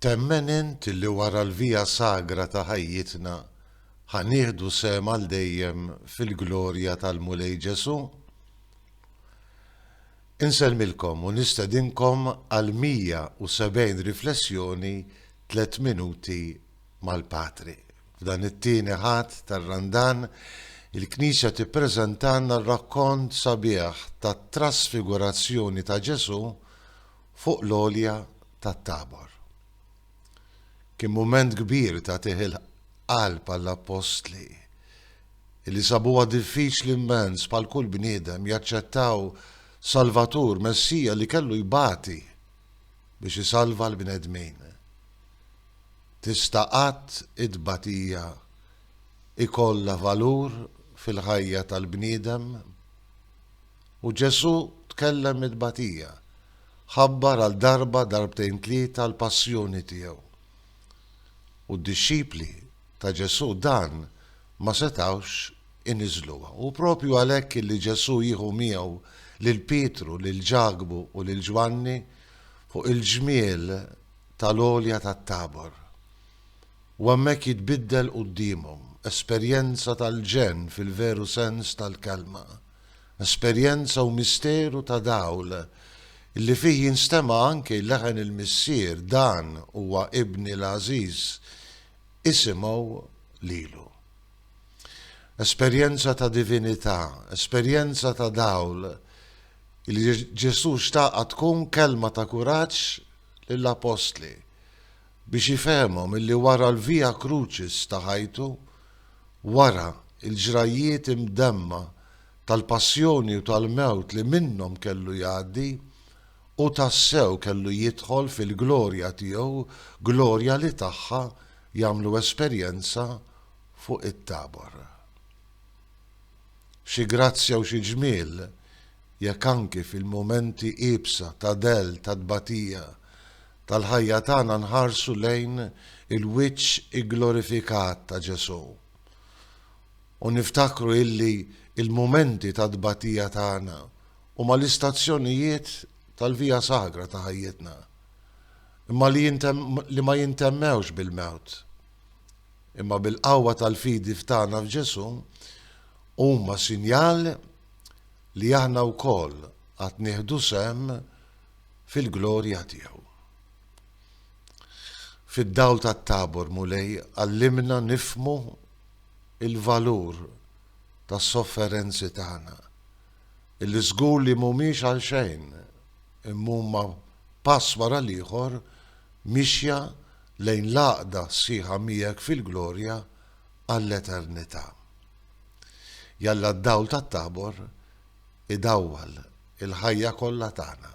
Temmen int li wara l-Via Sagra ta' ħajjitna ħa nieħdu sehem għal dejjem fil-glorja tal-Mulej Ġesù? Insellmilkom u nistedinkom għal 170 riflessjoni tliet minuti mal-Patri. F'dan it-tieni Ħadd tar-Randan, il-Knisja tippreżentalna r-rakkont sabiħ tat-trasfigurazzjoni ta' Ġesù fuq l-għolja tat-Tabor. Kien mument kbir ta' tih il-qalb għall-appostli li sabuha diffiċli immens bħal kull bniedem jaċċettaw Salvatur, Messija li kellu jbati biex isalva l-bnedmin. Tista' qatt it-tbatija jkollha valur fil-ħajja tal-bniedem? U Ġesù tkellem mit-tbatija, ħabbar għal darba darbtejn tlieta l-passjoni tiegħu. U d-dixxipli ta' Ġesù dan ma setgħux iniżżluha. Hu proprju għalhekk li Ġesù jieħu miegħu lil Pietru, lil Ġakbu u lil Ġwanni fuq il-ġmiel tal-għolja tat-Tabor, u hemmhekk jitbiddel quddiemhom, esperjenza tal-ġenn fil-veru sens tal-kelma, esperjenza u misteru ta' dawl li fih jinstema' anki leħen il-Missier, Dan huwa Ibni l-għażiż, isimgħu lilu. Esperjenza ta' divinità, esperjenza ta' dawl li Ġesù xtaqha tkun kelma ta' kuraġġ lill-Appostli biex ifehmhom illi wara l-Via Crucis ta' ħajtu, wara l-ġrajjiet imdemma tal-passjoni u tal-mewt li minnhom kellu jgħaddi, hu tassew kellu jidħol fil-glorja tiegħu, glorja li tagħha jagħmlu esperjenza fuq it-Tabor. Xi grazzja u xi ġmiel, jekk anki fil-mumenti iebsa ta' dell, ta' tbatija, tal-ħajja tagħna nħarsu lejn il-wiċċ igglorifikat ta' Ġesù u niftakru illi l-mumenti ta' tbatija tagħna huma l-istazzjonijiet tal-via sagra ta' ħajjitna, imma li ma jintemmewx bil-mewt. Imma bil-qawwa tal-fidi f'tagħna f'Ġesù, huma sinjal li aħna wkoll għad nieħdu sehem fil-glorja tiegħu. Fid-dawl tat-Tabor Mulej għallimna nifhmu l-valur tas-sofferenzi tagħna. illi żgur li mhumiex għalxejn imma huma pass wara l-ieħor mixja lejn l-għaqda sħiħa miegħek fil-glorja għall-eternità. Jalla d-dawl tat-Tabor idawwal il-ħajja kollha tagħna.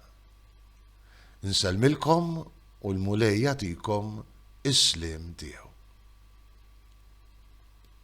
Insellmilkom u l-Mulej jagħtikom is-sliem tiegħu.